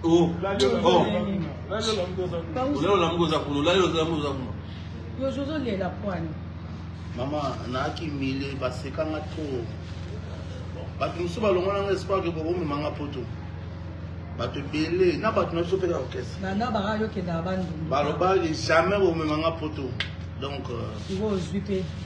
Oh. mama nayaki mile basekanga to bato mosusu balongona nga espoir ke bokomema nga poto bato ebele na bato na biso mpe na orchestre balobaki jamais bomema nga poto donc euh,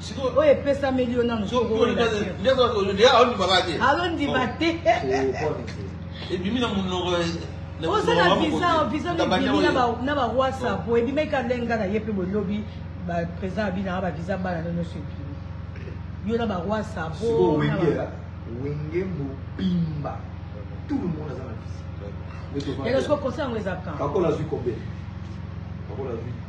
sikoyo oyo epesameli yo nano alondiba te ebimi na monoko oza na visa visa ebimi na barwasa po ebimaki ka ndenge nga na ye mpe bolobi baprésident ya binanga bavisa bana no nyonso ebimi yo na barwasa po wenge mobimba tout le monde aza na visa lelo soko conseil yango eza kan bakola azwi combien bakola azwi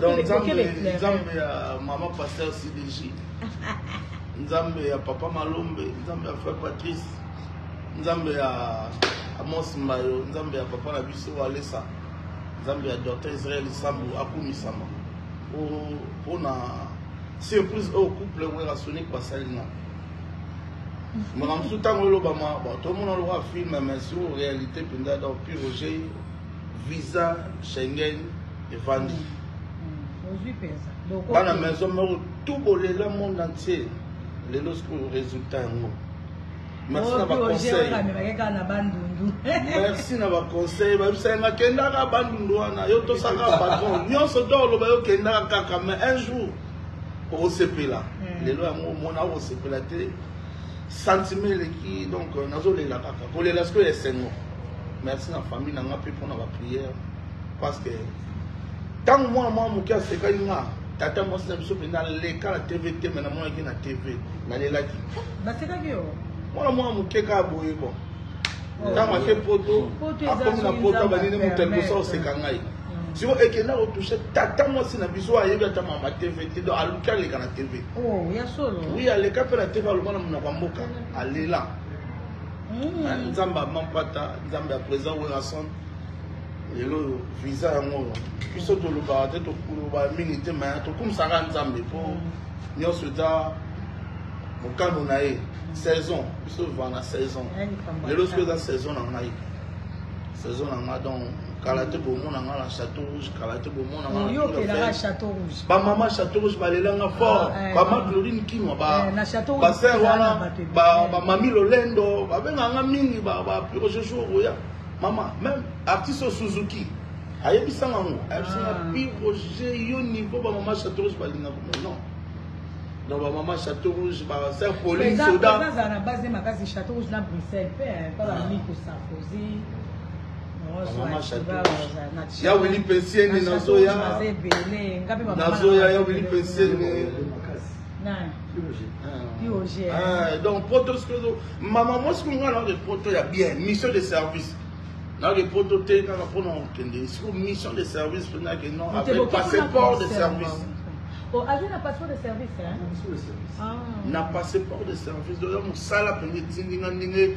donc nzambe nzambe ya mama pasteur cdg nzambe ya papa malombe nzambe ya frère patrice nzambe ya amos mbayo nzambe ya papa na biso alesa nzambe ya docteur israel sambu akumisama mpo na surprise oyo couple wera sonic basali na makambo mosusu ntango elobama tomona lokola filme mais sur réalité mpenza donc pure jei visa Schengen evandi mm. bana maison moko tout bolela monde entier lelo sikoyo résultat yango merci na baconseil merci na baconseil babisaka nga kendaka bandundu wana yo tosaka patron nyonso to oloba yo kendaka kaka mais un jour okosepela mm. lelo yango omona okosepela te sentiment eleki donc euh, nazolela kaka kolela sikoyo esengo merci na famille na nga mpe mpo na baprière parce que ntango mwana mwa moke asekaki nga tata mwasi na biso mpenza aleka na tv te me namonaki na tv nalelaki basekaki yo mwana mwa moke kaka boye bon oh. ntango ake poto akomi na poto abanini moto alibosa oseka ngai mm. siko ekenda kotouche tata mwasi na biso ayebi ata mama tv te donc aluki aleka na tv Oh, ya solo. Oui, aleka pe na TV aloba na munoko mboka, alela. Mm. Ah, Nzamba mampata, Nzamba ya président Werrason. Lelo visa yango. Biso toloba te tokoloba mingi te mais tokumisaka Nzambe po mm. nyonso eza mokano na ye saison biso va na saison lelo soki eza saison na ngai saison na ngai donc kala te bomona ngai na chateau rouge bamama chateau rouge balelanga fort ah, eh. bama claudine kinwa eh, baser wana bamami lolendo babenganga mingi bapirojour oya mama meme artiste suzuki ayebisanga yango ayebisanga ah. piroge yo niveau bamama chateau rouge balingaka mo non donc bamama chateau rouge baser polin soda na base makasi chateau rouge na bruxelles mpe eh, mpa bamiko sarkozy ya wili pensiene nazoya nazoya ya wili pensiene donc poto mama mwasi kunga na de poto ya bien mission de service na de poto te kaka mpona kokende siko mission de service mpena ke non avec passeport de service Oh, azwi na passeport de service hein? Ah. na passeport de service oza mosala mpenza etindinga ndenge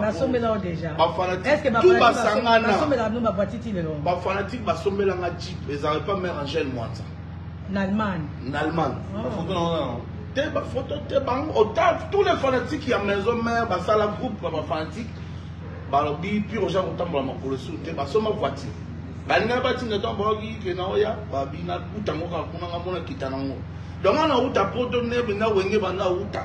basombela yo deja eske basombela bino bavoiture ti lelo bafanatike basombela nga jeep ezalaki pa mare angel mwanza na allemagne na allemagne oh. te bafoto te bango ota tous les fanatiques ya maison mare basala groupe ya bafanatike balobi pire oza kotambola makolo esu te basomba voiture balingai batinda ntango bayoki ke na oya babina kuta ngo kaka kuna nga mona kita nango donc ana uta poto nebe na wenge banda uta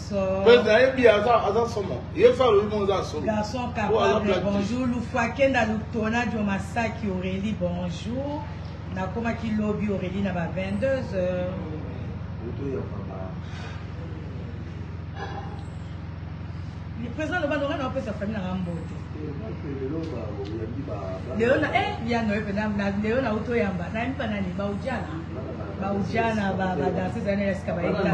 Mais nayebi aza aza somo. Ye fa lobi mo aza somo. Garçon capable. Bonjour Lufua Kenda Lutona Dio Masaki Aurélie bonjour. Nakomaki lobi Aurélie na ba 22 heures. Le président loba loba na opesa famille na mbote. Leo na eh ya no ependa na leo na uto yamba. Na mpa nani ba ujana. Ba ujana ba ba danseuse ya nela sika ba ita.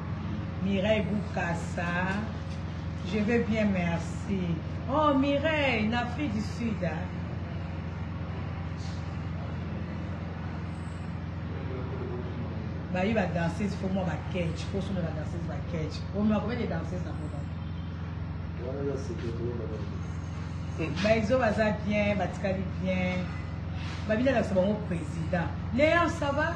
Mireille Bukasa. Je vais bien, merci. Oh, Mireille, en Afrique du Sud. Hein? bayi badanseuse fo mwa baketch fo suna badanseuse baketch omema combien de danseuse na boba baizo baza bien batikali bien babina lakisa bango président léon ça va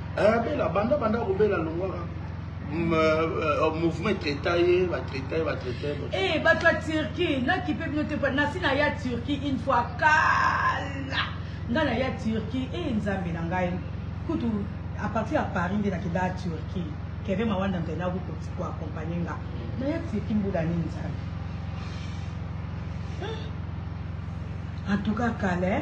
Eh, bela banda banda kobela longwaka mm, euh, euh, mouvement traita ye batraita ye batraita ye eh, bato ya turquie nakipe bino te nasi na ya turquie une fois kala ngai na ya turquie e eh, nzambe na ngai kutu à partir ya paris nde nakenda ya turquie keve mawanda mpe naku koakompagne nga na ya turquie mbula nini nzambe en tout cas kala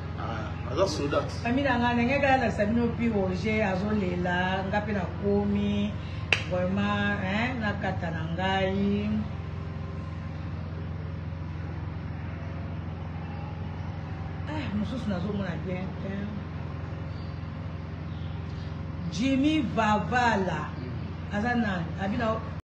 Ah, aza soda. Famille na nga ndenge kala na sabino pi Roger azolela nga pe na komi vraiment hein na kata na ngai. Ah, mosusu nazomona bien te. Jimmy Vavala aza nani? Abina